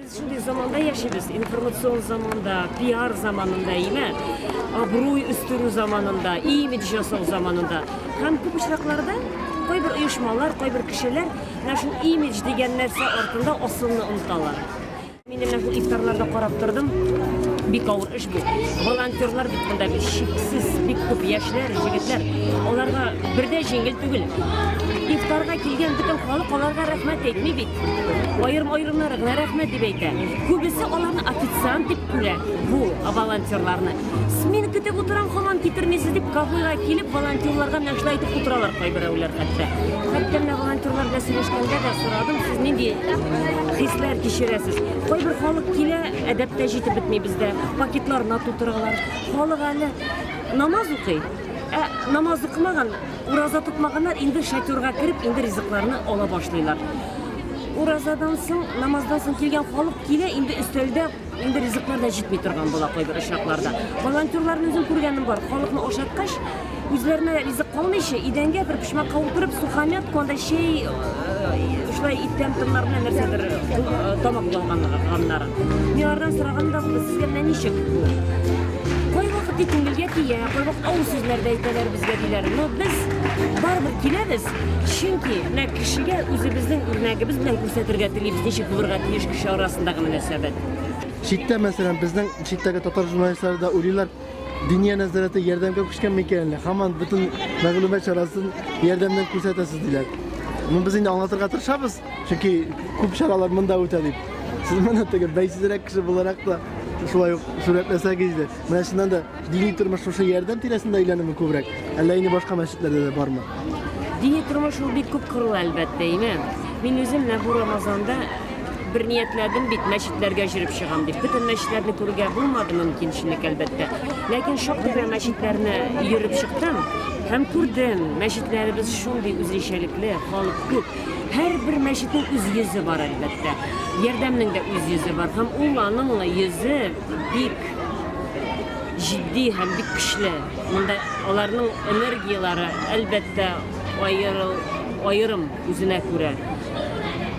Без шундый заманда яшибез, информацион заманда, пиар заманында, имә, абруй үстерү заманында, имидж жасау заманында. Һәм күп очракларда кайбер оешмалар, кайбер кешеләр менә шул имидж дигән нәрсә артында асылны оныталар. Мин менә шул ифтарларда карап тордым. Бик авыр эш бу. Волонтерлар бит монда бик шиксез, бик күп яшьләр, җегетләр. Аларга бердә җиңел түгел. Ифтарга килгән бөтен халык аларга рәхмәт әйтми бит. Аерым-аерымнары гына рәхмәт дип әйтә. Күбесе аларны официант дип күрә. Бу волонтерларны. Смен көтеп утырам, хаман китермисез дип кафега килеп волонтерларга нәрсә әйтеп утыралар кайберәүләр хәтта. Хәтта менә волонтерлар белән сөйләшкәндә дә сорадым, сез нинди хисләр кичерәсез? Кайбер халык килә, әдәптә җитеп бетми бездә. Пакетларына тутыралар. Халык әле намаз укый. Ә намаз укымаган Ураза тотмаганнар инде шатюрга кереп, инде ризыкларны ала башлыйлар. Уразадан соң, намаздан соң килгән халык килә, инде өстәлдә инде ризыклар да җитми торган була кайбер очракларда. Волонтерларны үзем күргәнем бар. Халыкны ашаткач, үзләренә ризык калмыйча, идәнгә бер почмакка утырып, сухомятка, анда чәй, э, шулай иттән томнар белән нәрсәдер э, тамак ялганнар. Милардан сораганда без сезгә менә ничек бу? Кайвакыт тик күңелгә тия, кайвакыт авыр сүзләр дә әйтәләр безгә диләр. Но без барыбер киләбез, чөнки менә кешегә үзебезнең үрнәгебез белән күрсәтергә телибез, ничек булырга тиеш кеше арасындагы мөнәсәбәт. Читтә, мәсәлән, безнең читтәге татар журналистлары да уйлыйлар, Диния нәзарәте ярдәмгә күчкән микән әллә? Һаман бөтен мәгълүмат чарасын ярдәмнән күрсәтәсез диләр. Ну, без инде аңлатырга тырышабыз. Чөнки күп чаралар монда үтә дип. Сез моны теге бәйсезрәк кеше буларак та шулай ук сурәтләсәгез иде. Менә чыннан да дини тормыш шушы ярдәм тирәсендә әйләнеме күбрәк? Әллә инде башка мәчетләрдә дә бармы? Дини тормыш ул бик күп кырлы әлбәттә, име. Мин үзем менә бу Рамазанда бер ниятләдем бит мәчетләргә җөреп чыгам дип. Бөтен мәчетләрне күрергә булмады мөмкинчелек әлбәттә. Ләкин шактый гына мәчетләрне йөреп чыктым һәм күрдем, мәчетләребез шундый үзенчәлекле, халык күп. Һәрбер мәчетнең үз йөзе бар, әлбәттә. Ярдәмнең дә үз йөзе бар. Һәм ул аның йөзе бик җитди һәм бик көчле. Монда аларның энергияләре, әлбәттә, аерыл, аерым үзенә күрә.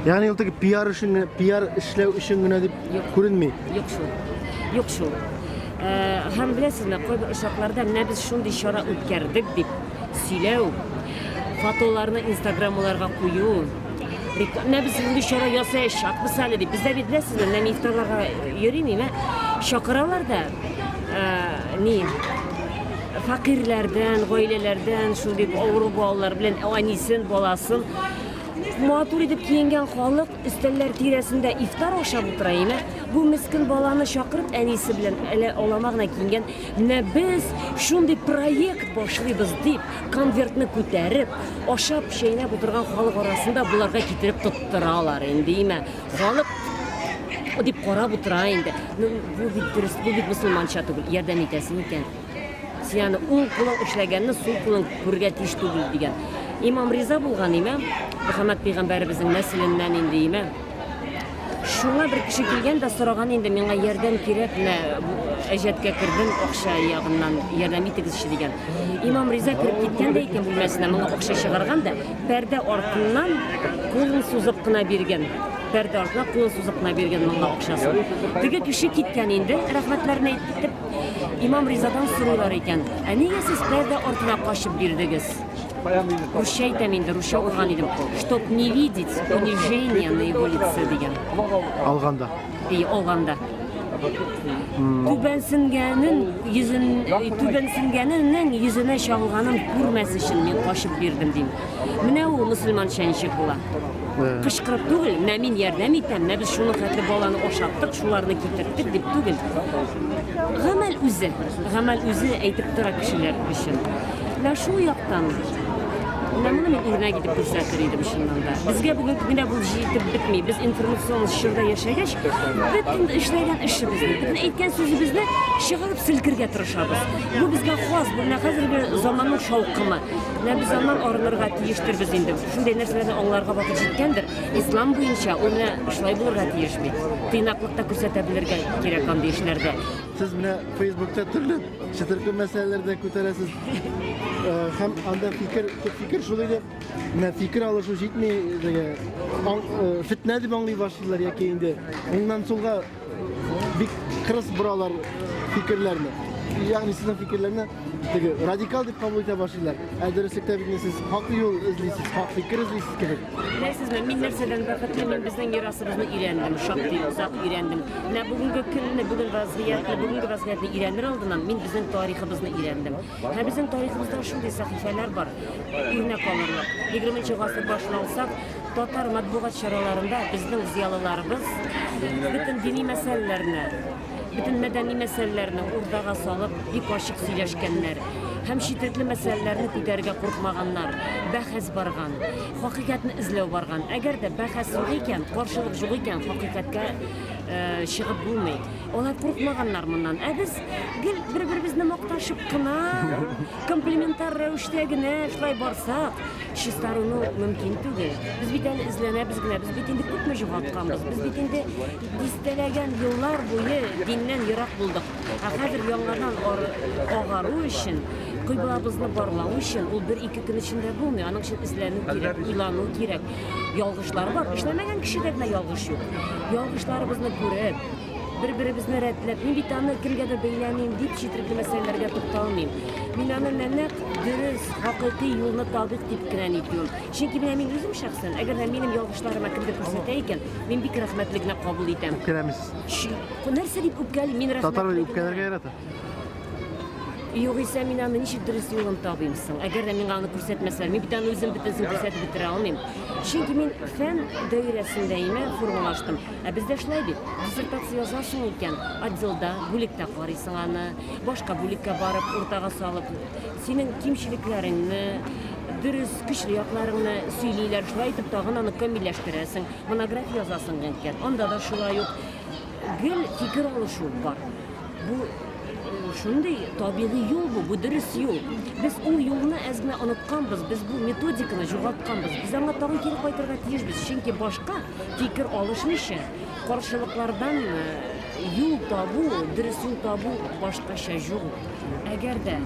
Ягъни ул теге пиар өчен генә, пиар эшләү өчен генә дип күренми. Юк шул. Юк шул. Һәм беләсезме, кайбер очракларда менә без шундый чара үткәрдек бит. сөйләү, фотоларны инстаграмларга кую, менә без инде чара ясаячакбыз әле дип, бездә бит беләсезме, менә мин ифтарларга йөрим, мә чакыралар да, ни, факирләрдән, гаиләләрдән, шул дип авыру балалар белән әнисен, баласын матур итеп киенгән халык өстәлләр тирәсендә ифтар ашап утыра, мә бу мескен баланы чакырып әнисе белән әле алама гына киенгән Менә без шундый проект башлыйбыз, дип, конвертны күтәреп, ашап-чәйнәп утырган халык арасында боларга китереп тоттыралар инде, имә. Халык дип карап утыра инде. Ну, бу бит дөрес, бу бит мусульманча түгел, ярдәм итәсең икән. Син аны уң кулың эшләгәнне сул кулың күрергә тиеш түгел, дигән. Имам риза булган, имә, Мөхәммәд пәйгамбәребезнең нәселеннән инде, имә. Шуңа бер кеше килгән дә сораган инде, миңа ярдәм кирәк, менә әҗәткә кердем, акча ягыннан ярдәм итегезче дигән. Имам Риза кереп киткән дә икән бүлмәсенә, моңа акча чыгарган да, пәрдә артыннан кулын сузып кына биргән. Пәрдә артына кулын сузып кына биргән моңа акчасын. Теге кеше киткән инде, рәхмәтләрен әйтеп, имам Ризадан сорыйлар икән. Ә нигә сез пәрдә артына качып бирдегез? Русча әйтәм инде, русча укыган идем. Чтоб не видеть унижения на его лице дигән. Алганда. И алганда. Түбәнсенгәнен йөзен түбәнсенгәненең йөзенә чагылганын күрмәс өчен мин качып бирдем дим. Менә ул мусульманча ничек була. Кычкырып түгел, менә мин ярдәм итәм, менә без шуны хәтле баланы ашаттык, шуларны китерттек дип түгел. Гамәл үзе, гамәл үзе әйтеп тора кешеләр өчен. Менә шул яктан менә моны мин үрнәк итеп күрсәтер идем чыннан да. Безгә бүгенге көндә бу җитеп бетми. Без информацион чорда яшәгәч, бөтен эшләгән эшебезне, бөтен әйткән сүзебезне чыгарып селкергә тырышабыз. Бу безгә хас, бу менә хәзерге заманның шаукымы. Менә без аннан арынырга тиештербез инде. Шундый нәрсәләрне аңларга вакыт җиткәндер. Ислам буенча ул менә шулай булырга тиеш бит. Тыйнаклык та күрсәтә белергә кирәк андый эшләрдә. Сез менә Фейсбукта төрле чытыркы мәсьәләләр дә күтәрәсез. Э, һәм анда фикер, төп фикер шул иде. Менә фикер алышу җитми, дигән. Э, фитнә дип аңлый башлыйлар яки инде. Моннан соңга бик кырыс боралар фикерләрне. Ягъни сезнең фикерләрне Теге радикал дип кабул итә башлыйлар. Ә дөреслектә бит инде сез хак юл эзлисез, хак фикер эзлисез кебек. Беләсезме, мин нәрсәдән бәхетле, мин безнең мирасыбызны өйрәндем, шактый озак өйрәндем. Менә бүгенге көнне, бүген вазгыятьне, бүгенге вазгыятьне өйрәнер алдыннан мин безнең тарихыбызны өйрәндем. Һәм безнең тарихыбызда шундый сәхифәләр бар, өйрәнә калырлык. 20 гасыр башына алсак, татар матбугат чараларында безнең зыялыларыбыз бөтен дини мәсьәләләрне бөтен мәдәни мәсьәләләрне уртага салып, бик ачык сөйләшкәннәр һәм четерекле мәсьәләләрне күтәрергә куркмаганнар. Бәхәс барган, хакыйкатьне эзләү барган. Әгәр дә бәхәс юк икән, каршылык юк икән, хакыйкатькә э, чыгып булмый. Алар куркмаганнар моннан. Ә без гел бер-беребезне макташып кына, комплементар рәвештә генә шулай барсак, чистаруны мөмкин түгел. Без бит әле эзләнәбез генә, без бит инде күпме югалтканбыз, без бит инде Дистәләгән еллар буе диннән ерак булдык, ә хәзер яңадан агару өчен, кыйблабызны барлау өчен, ул бер-ике көн эчендә булмый, аның өчен эзләнү кирәк, уйлану кирәк. Ялгышлар бар, эшләмәгән кешедә генә ялгыш юк. Ялгышларыбызны күреп, бер-беребезне рәтләп, мин бит аны кемгәдер бәйләмим дип четерекле мәсьәләләргә тукталмыйм. Мин аны нәнәк дөрес, хакыйкый юлны табыйк дип кенә нитмим. Чөнки менә мин үзем шәхсән, әгәр дә минем ялгышларыма кемдер күрсәтә икән, мин бик рәхмәтле генә кабул итәм. Үпкәләмисез. Чү- Нәрсә дип үпкәли, мин рәхмәтле. Татар генә. үпкәләргә ярата. Югыйсә мин аны ничек дөрес юлын табыйм соң? Әгәр дә миңа аны күрсәтмәсәләр, мин бит аны үзем бөтенесен күрсәтеп бетерә алмыйм. Чөнки мин фән даирәсендә имә формалаштым. Ә бездә шулай бит. Диссертация язасың икән, отделда, бүлектә карыйсың аны, башка бүлеккә барып, уртага салып Синең кимчелекләреңне, дөрес, көчле якларыңны сөйлиләр, шулай итеп тагын аны камилләштерәсең, монография язасың генкер. Анда да шулай ук гел фикер алышу бар. Бу шундый табигый юл бу, бу дөрес юл. Без ул юлны әз генә онытканбыз, без бу методиканы югалтканбыз. Без аңа тагын кире кайтырга тиешбез, чөнки башка фикер алышмыйча, каршылыклардан юл табу, дөрес юл табу башкача юк. Әгәр дә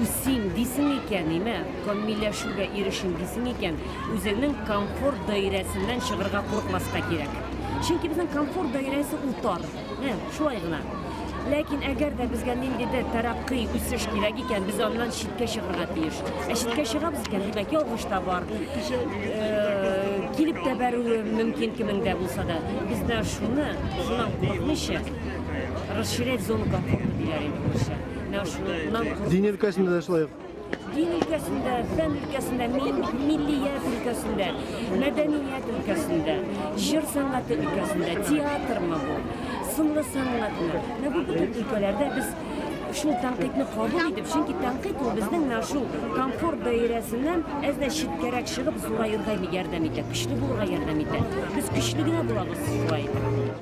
үсим дисең икән, имә, камилләшүгә ирешим дисең икән, үзеңнең комфорт даирәсеннән чыгырга курыкмаска кирәк. Чөнки безнең комфорт даирәсе ул тар. Ә, шулай гына. Ләкин әгәр дә безгә ниндидер тәрәккый, үсеш кирәк икән, без аннан читкә чыгырга тиеш. Ә читкә чыгабыз икән, димәк, ялгыш та бар. Э, килеп тә бәрүе мөмкин кемнең дә булса да. Бездә шуны, шуннан курыкмыйча, Расширять зону комфорта диләр инде урысча. Менә шуннан Дин өлкәсендә дә шулай ук. Дин өлкәсендә, фән өлкәсендә, миллият өлкәсендә, мәдәният өлкәсендә, җыр сәнгате өлкәсендә, театрмы бу, сынлы сәнгатьме? Менә бу бөтен өлкәләрдә без шул тәнкыйтьне кабул итеп, чөнки тәнкыйть ул безнең менә шул комфорт даирәсеннән әз дә читкәрәк чыгып зураерга ярдәм итә, көчле булырга ярдәм итә. Без көчле генә булабыз шулай.